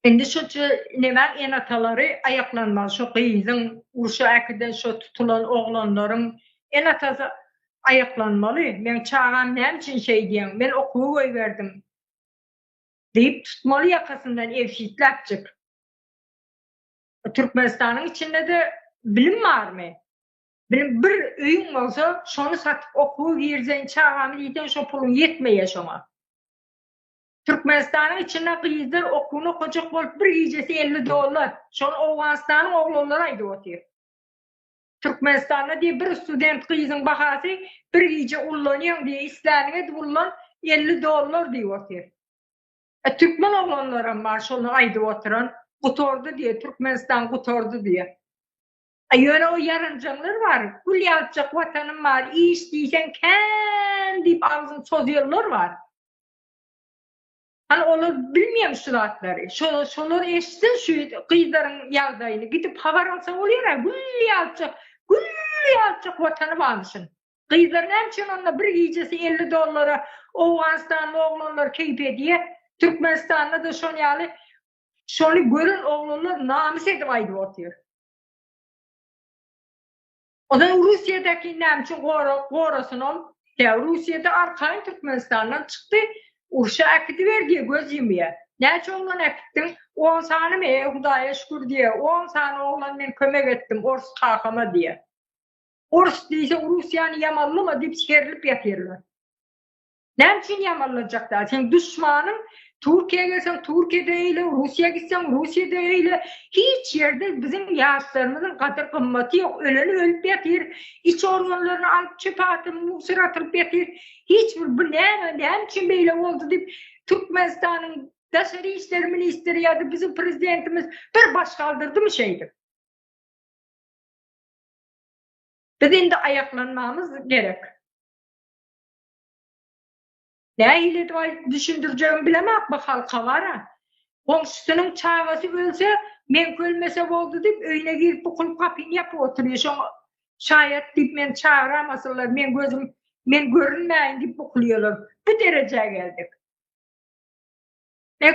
Indi şu nemäň enatalary aýaklanmaly şu gyzyň urşa äkiden şu tutulan oglanlaryň enatasy aýaklanmaly meň çagam näme üçin şeýdýäň men okuwy goýberdim diýip tutmaly ýakasyndan ebşitläpjik Türkmenistanyň içindede bilim barmy bilim bir öýüň bolsa şony satyp okuwa girzeýin çagamy diýseň şo puluň ýetmeýä şoňa. Türkmenistanyň içinde gyzlar okuwyny okajak bolup bir gijesi elli dollar. Şony Owganystanyň oglanlary aýdyp otyr. Türkmenistanda diýip bir student gyzyň bahasy bir gije ullanýaň diýip isläniňi edip ullan elli dollar diýip otyr. E türkmen oglanlaram bar şony aýdyp oturan gutardy diýip Türkmenistan gutardy diýip. E ýöne o ýaranjaňlar bar gül ýalypjak watanym bar iş diýseň kän diýip agzyny çozýanlar bar. Hany olar bilmiýem şu zatlary. Şo şolar eşitsin şu gyzlaryň ýagdaýyny gidip habar alsa bolýar-a gül ýalyjak, gül ýalyjak watany barmyşyn. Gyzlar näme üçin onda bir gijesi elli dollara owganystanly oglanlar keýp edýär. Türkmenistanda-da şon ýaly şony gören oglanlar namys edip aýdyp otyr. Ozal Russiýadakini näme üçin gorasyn ol? Tä Russiýada arkaýyn Türkmenistandan çykdy, urşa äkidiber diýe göz ýumýa. Näçe oglan äkitdiň? On sanymy? Eý, Hudaýa şükür diýe, on sany oglan men kömek etdim ors kakama diýe. Ors diýse Russiýany ýamanlyma diýip serlip ýatyrlar. Näme üçin ýamanlanjak däl? Seň duşmanyň Türkiýä gelseň, Türkiýede eýle, Russiýa gitseň, Russiýada eýle. Hiç ýerde biziň ýaşlarymyzyň gadyr gymmaty ýok. Öleni ölüp ýatyr, iç organlaryny alyp çöpe atyp, musora atylyp ýatyr. Hiç bir bu näme, näme üçin beýle boldy diýip Türkmenistanyň daşary işler ministri ýa-da biziň prezidentimiz bir baş galdyrdymy şeýdip? Biz indi aýaklanmamyz gerek. Nähili edip aýdyp düşündirjegimi bilemok bu halka bara. Goňşusynyň çagasy ölse, meňki ölmese boldy diýip, öýüne girip bu kulp gapyny ýapyp otyrýar. Şoňa şaýat diýip meni çagyramasynlar, meň gözüm men görünmäýin diýip bukulýarlar. Bu derejä geldik.